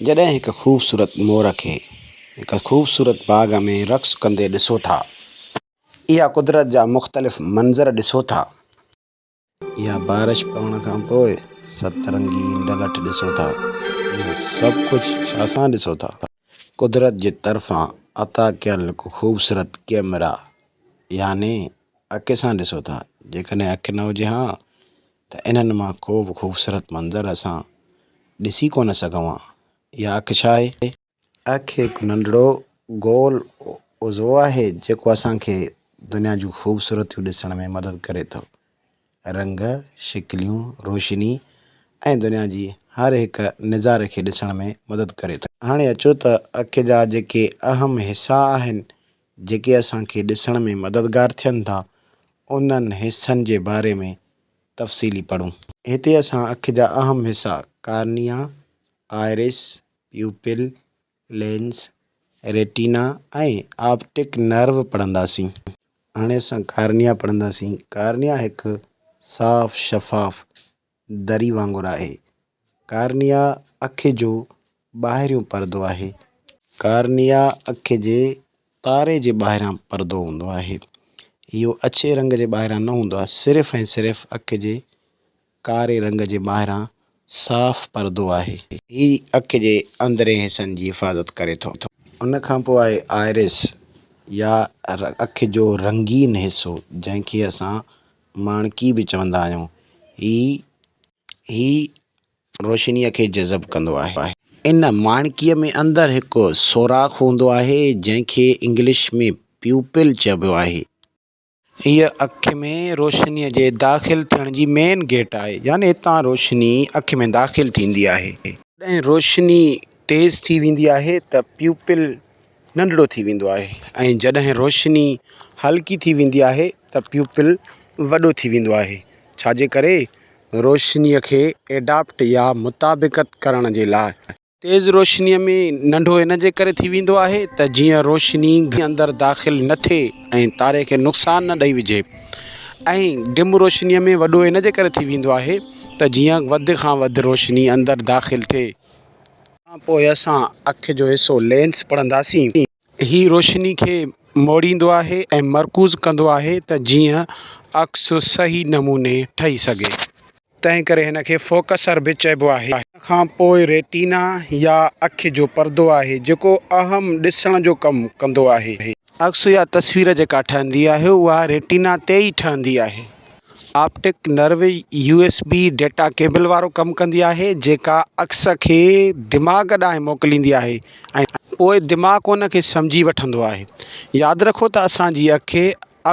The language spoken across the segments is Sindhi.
جڏهن هڪ خوبصورت مور کي هڪ خوبصورت باغ ۾ رقص ڪندي ڏسو ٿا. يا قدرت جا مختلف منظر ڏسو ٿا. يا بارش پوڻ کان پوء ست رنگي ڊلٺ ڏسو ٿا. اهو سڀ ڪجهه ڇا سان ڏسو ٿا؟ قدرت جي طرفان عطا ڪيل هڪ خوبصورت ڪئميرا يعني اکي سان ڏسو ٿا. جيڪڏهن اک نه هجي ها ته انهن مان ڪو به خوبصورت منظر اسان ڏسي ڪونه سگهون ها. اها اک ڇا آهي؟ اک هڪ ننڍڙو گول عضو آهي جيڪو اسان کي دنيا جون خوبصورتيون ڏسڻ ۾ مدد ڪري ٿو. رنگ، شڪليون، روشني ۽ دنيا جي هر هڪ نظاري کي ڏسڻ ۾ مدد ڪري ٿو. هاڻي اچو ته اک جا جيڪي اهم حصا آهن جيڪي اسان کي ڏسڻ ۾ مددگار ٿين ٿا، انهن حصن جي باري ۾ تفصيلي پڙهون. هتي اسان اک جا اهم حصا cornea, iris, pupil, lens, retina ۽ optic nerve پڙهنداسين. هاڻي اسان ڪارنيا پڙهنداسين. ڪارنيا هڪ صاف، شفاف دري وانگر آهي. ڪارنيا اک جو ٻاهريون پردو آهي. ڪارنيا اک جي تاري جي ٻاهران پردو هوندو آهي. اهو اڇي رنگ جي ٻاهران نه هوندو آهي. صرف ۽ صرف اک جي ڪاري رنگ جي ٻاهران صاف پردو آهي. هي اک جي اندرين حصن جي حفاظت ڪري ٿو. ان کان پوء آهي آئرس يا اک جو رنگين حصو جنهن کي اسان ماڻڪي به چوندا آهيون. هي هي روشنيء کي جذب ڪندو آهي. ان ماڻڪيء ۾ اندر هڪ سوراخ هوندو آهي، جنهن کي انگلش ۾ پيوپل چئبو آهي. هيء اک ۾ روشنيء جي داخل ٿيڻ جي مين گيٽ آهي، يعني هتان روشني اک ۾ داخل ٿيندي آهي. جڏهن روشني تيز ٿي ويندي آهي ته پيوپل ننڍڙو ٿي ويندو آهي ۽ جڏهن روشني هلڪي ٿي ويندي آهي ته پيوپل وڏو ٿي ويندو آهي ڇا جي ڪري روشني کي ايڊاپٽ يا مطابقت ڪرڻ جي لاء تيز روشني ۾ ننڍو ان جي ڪري ٿي ويندو آهي ته جيئن روشني گهڻي اندر داخل نه ٿئي ۽ تاري کي نقصان نه ڏئي وجهي ۽ ڊم روشني ۾ وڏو ان جي ڪري ٿي ويندو آهي ته جيئن وڌ کان وڌ روشني اندر داخل ٿئي. کان پوء اسان اک جو حصو لينس پڙهنداسين. هي روشني کي موڙيندو آهي ۽ مرڪوز ڪندو آهي ته جيئن عڪس صحيح نموني ٺهي سگهي. تنهن ڪري هن کي فوڪسر به چئبو آهي. ان کان پوء ريٽينا يا اک جو پردو آهي جيڪو اهم ڏسڻ جو ڪم ڪندو آهي. عڪس يا تصوير جيڪا ٺهندي آهي اها ريٽينا تي ئي ٺهندي آهي. Optic nerve U S B data cable وارو ڪم ڪندي آهي جيڪا عڪس کي دماغ ڏانهن موڪليندي آهي ۽ پوء دماغ ان کي سمجهي وٺندو آهي. ياد رکو ته اسان جي اک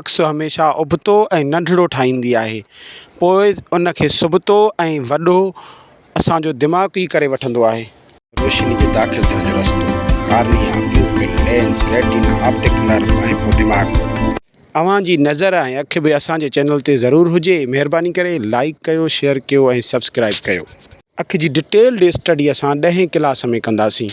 عڪس هميشه ابتو ۽ ننڍڙو ٺاهيندي آهي پوء ان کي سبتو ۽ وڏو اسان جو دماغ ئي ڪري وٺندو آهي. روشني جي داخل ٿيڻ جو رستو cornea, pupil, lens, retina, optic nerve ۽ پوء دماغ. اوهان جي نظر ۽ اک به اسان جي چينل تي ضرور هجي. مهرباني ڪري لائيڪ ڪيو، شيئر ڪيو ۽ سبسڪرائيب ڪيو. اک جي ڊٽيلڊ اسٽڊي اسان ڏهين ڪلاس ۾ ڪنداسين.